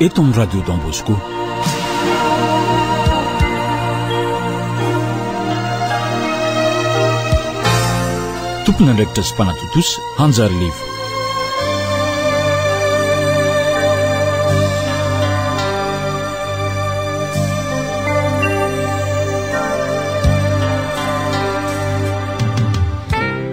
eto amin'ny radio Don Bosco. Tompon'andraikitra sy mpanatontosa Hanjary Levo.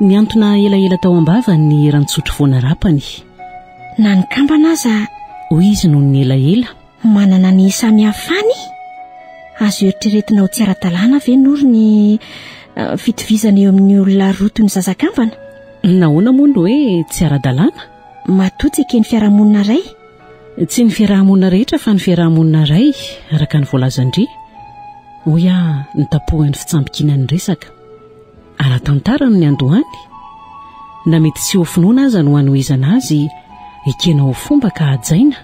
Nihantona elaela tao am-bavany ny eran-tsotro vao narapany. Na ny kambana aza, hoy izy nony elaela. Manana ny isamihafany? Azo eritreretina ho tsy ara-dalàna ve noro ny fitovizana eo amin'ny olona roa toy ny zazakambana? Nahoana moa no hoe tsy ara-dalàna? Matoa tsy eken'ny fiarahamonina iray? Tsy ny fiarahamonina rehetra fa ny fiarahamonina iray, araka ny voalazan-dry, hoy aho nitapohan'ny fitsambikiana ny resaka. Ara-tantara ny niandohany, na mety tsy ho finoana aza no hanohizana azy, ekena ho fomba ka hajaina.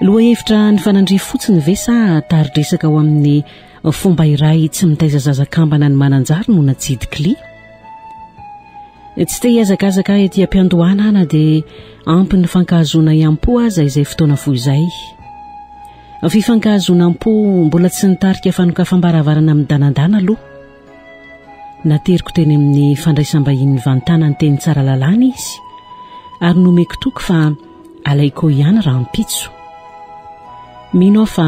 Lohahevitra nifanandrify fotsiny ve sa tari-dresaka ho amin'ny fomba iray tsy mitaiza zaza kambana ny Mananjary no natsidik'i Lia? Tsy te hihazakazaka ahy aty am-piandohana aho na dia ampy nifankahazoana hiam-po aza izay fotoana fohy izay. Fifankahazoanam-po mbola tsy nitarika fanokafam-baravarana midanadana aloha. Nateriko teny amin'ny fandraisam-bahiny mivantana ny teny Tsaralalàna izy ary nomeko toky fa alaiko eo ihany rahampitso. Mino aho fa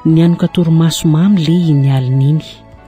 nianoka torimaso mamy lehy iny alin'iny.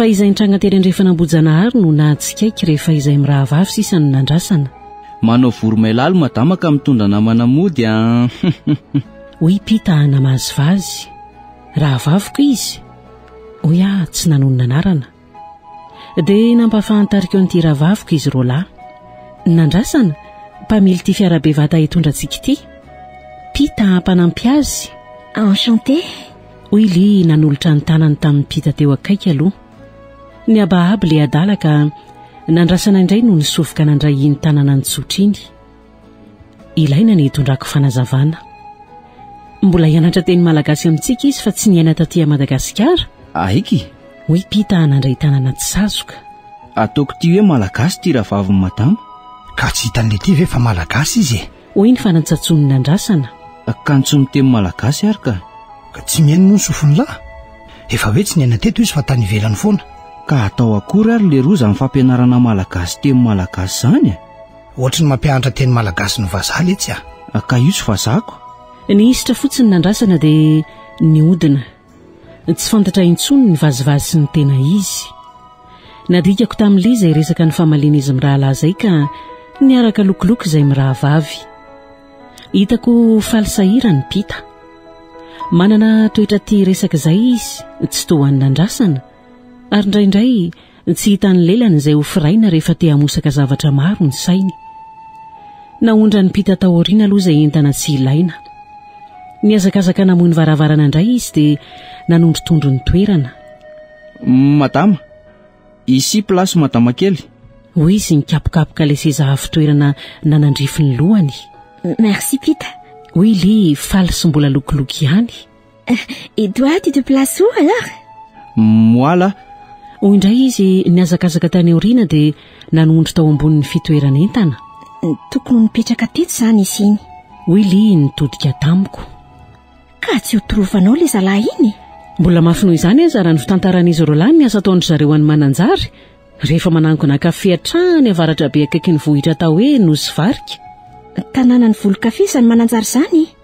fa izay nitranga tery andrefana ambojanahary no nahatsikaiky rehefa izay mirahavavy sisa no nandrasana manao voromailalo madama ka mitondra namana mody a ah. hoy pita namazivazy rahavaviko izy hoy aho tsy nanonona anarana Dia nampahafantariko an'ity rahavaviko izy roa lahy. Nandrasana, mpamily ity fiara be vata hitondra antsika ity. Pita mpanampy azy. Enchanté. Hoy Li nanolotra ny tanany tamin'i Pita teo akaiky aloha. Nihabahaba ilay adala ka nandrasana indray no nisofoka nandray iny tanana nitsotra iny. Ilaina ny hitondrako fanazavana. Mbola hianatra teny malagasy amintsika izy fa tsy niaina taty à Madagasikara. Aiky? Hoy Pita hanandray tanana tsy sazoka. Ataoko ity hoe malagasy ity rahavaviny madama. Ka tsy hitan'ilay ity ve fa malagasy izy e? Hoy ny fanantsatsonin'ny nandrasana. Akanjo miteny malagasy ary ka. Ka tsy mihaino moa ny sofin'ny lahy? Efa hoe tsy niaina teto izy fa tany ivelany foana. Ka atao akory ary leroa izany fampianarana malagasy teny malagasy izany e? Ohatry ny mampianatra teny malagasy no vazaha letsy a! Ka io tsy vazako? Ny hisatra fotsiny nandrasana dia nihodina. Tsy fantatra intsony ny vazivazy sy ny tena izy. Nadikako tamin'i Ly izay resaka nifamalian'izy mirahalahy izay ka niaraka lokiloky izay mirahavavy. Hitako faly sahirana i Pita. Manana toetra tia resaka izay izy tsy toa an'i Nandrasana ary indraindray Tsy hitan'ny lelany izay ho firaina rehefa te hamosaka zavatra maro ny sainy. Naondran'ny mpita tao aoriana aloha izay entana tsy ilaina. Nihazakazaka namoy ny varavarana indray izy dia nanondrotondro ny toerana. Madama, ici place madama kely. Hoy izy nikapokapoka ilay seza avo toerana nanandrify ny lohany. Merci mpita. Hoy Lee faly sy mbola lokoloky ihany. Et toi, tu te places où alors Moi là, Hoy indray izy nihazakazaka tany aoriana dia nanondro tao ambonin'ny fitoeran'entana. Tokony ho nipetraka teto izany izy iny. Hoy Lee nitodika tamiko. Ka tsy ho torofanao ilay zalahy iny? Mbola mafy noho izany aza raha ny fitantaran'izy roalahy ny asa ataon-dry zareo any Mananjary, rehefa manangona kafe hatrany avaratrabe akaikin'ny vohitra atao hoe Nosy Varika. Tanànan'ny volon-kafe izany Mananjary izany e!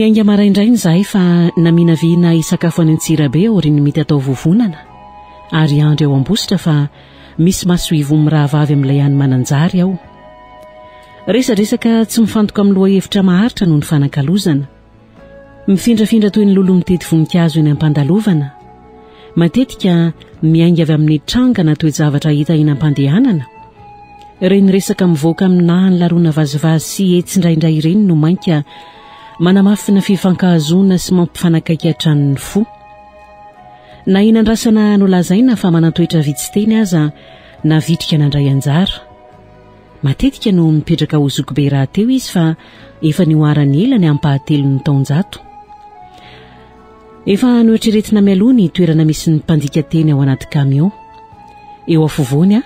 niainga maraindrainy izahay fa naminavina hisakafo any antsirabe aorian'ny mety atao vovonana ary andry ao am-bositra fa misy masoivo mirahavavy amin'ilay any mananjary aho Resadresaka tsy mifantoka amin'ny lohahevitra maharitra no nifanakalozana. Mifindrafindra toy ny lolo mitety voninkazo eny am-pandalovana. Matetika miainga avy amin'ny tranga na toe-javatra hita eny am-pandehanana. Ireny resaka mivoaka amin'ny nahan'ny laroana vazivazy sy etsy indraindray ireny no mainka manamafy ny fifankahazoana sy mampifanakaiky hatrany ny fo. Na eny andrasana nolazaina fa manan-toetra vitsy teny aza na vitrika nandray anjara. Matetika no mipetraka ao Zokibe rahateo izy fa efa nihoarany ela ny ampahatelon'ny taonjato. Efa noeritreretina mialoha ny toerana misy ny mpandika teny ao anaty kamiao. Eo afovoany aho,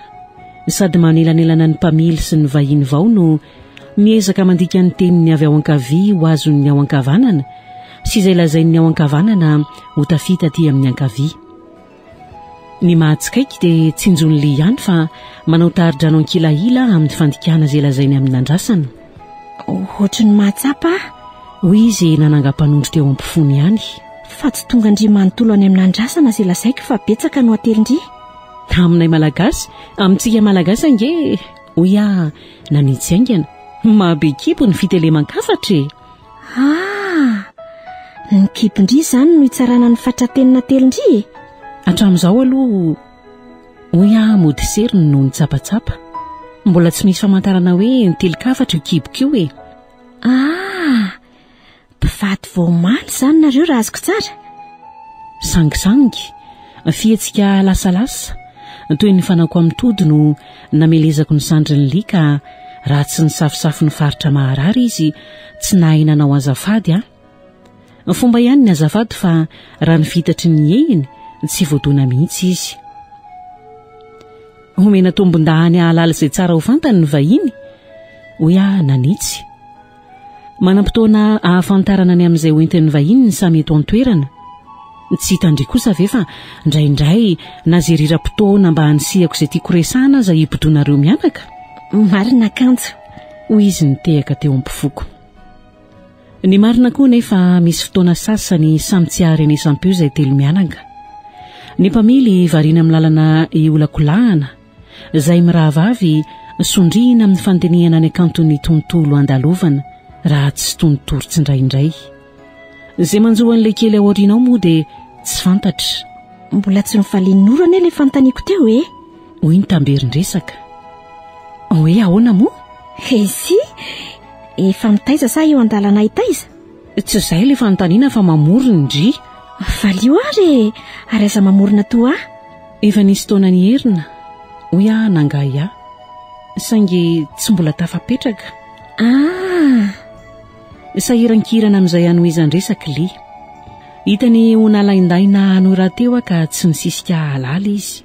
sady manelanelana ny mpamily sy ny vahiny vao no miezaka mandika ny teniny avy ao ankavia ho azon'ny ao ankavanana sy izay lazain'ny ao ankavanana ho tafita aty amin'ny ankavia. Ny mahatsikaiky dia tsinjon'i Lee ihany fa manao tari-drano ankilahila amin'ny fandikana izay lazainy amin'ny nandrasana. Ohatry ny mahatsapa aho, hoy izy nanangam-panondro teo am-pofony ihany. Fa tsy tonga an-dry manontolo any amin'ny nandrasana izay lazaiko fa betsaka no atelin-dry. Aminay Malagasy, amintsika Malagasy ange, hoy aho nanitsy haingana. Mahabe kibo ny fiteleman-kafatra e! Ah! Ny kibon-dry izany no hitsarana ny fatra-penina telon-dry e! Hatramin'izao aloha, hoy aho mody seriny noho ny tsapatsapa. Mbola tsy misy famantarana hoe nitelin-kafatra io kiboko io e! Ah! Mpivady vao omaly izany nareo raha azoko tsara? Sangisangy, fihetsika lasalasa, toy ny fanao koa amin'ny tody no Namelezako ny sandrin'i Lee ka raha tsy nisafosafo ny faritra maharary izy, tsy nahay nanao azafady aho. Ny fomba ihany ny azafady fa raha ny fitatry ny hihehiny, tsy voadona mihitsy izy. Homena tombondahany hahalala izay tsara ho fantany ny vahiny, hoy aho nanitsy. Manam-potoana ahafantarana ny amin'izay ho entin'ny vahiny ny samy eto an-toerana. Tsy hitandria kosa ve fa ndraindray na zeriram-potoana mba hanisihako izay tiako resahana aza hibodoanareo mianaka? Marina kanjo, hoy izy nitehaka teo am-pofoko. Ny marina koa nefa misy fotoana sasany samy tsy aharenesam-peo izay telo mianaka. Ny mpamily variana amin'ny lalana iolakolahana, izay mirahavavy sondriana amin'ny fandinihana ny hakanton'ny tontolo handalovana raha tsy tony tory tsindraindray. Izay manjo an'ilay kely aorianao moa dia tsy fantatra. Mbola tsy nivalian'ny ora anie ilay fanontaniako teo e! hoy ny tamberin-dresaka. Hoe ahoana moa? He si! Efa mitaiza sa eo an-dalana hitaiza? Tsy izay ilay fanontaniana fa mamory ny ndry. Valio ary e! Ary aza mamorona toa ahy. Efa nisy taona nierina, hoy aho nangahy ahy, saingy tsy mbola tafapetraka. Ah! Sahirankirana amin'izay hanohizan-dresaka Li. Hitany ho nalaindaina hanohy rahateo aho ka tsy nisisika hahalala izy.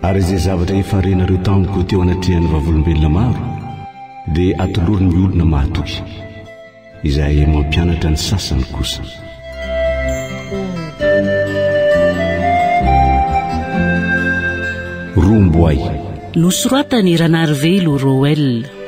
Ary izay zavatra efa renareo tamiko teo anatrehan'ny vavolombelona maro, dia atoloro ny olona mahatoky. Izahay mampianatra ny sasany kosa. Romboay. Nosoratan'i Ranarivelo Roel.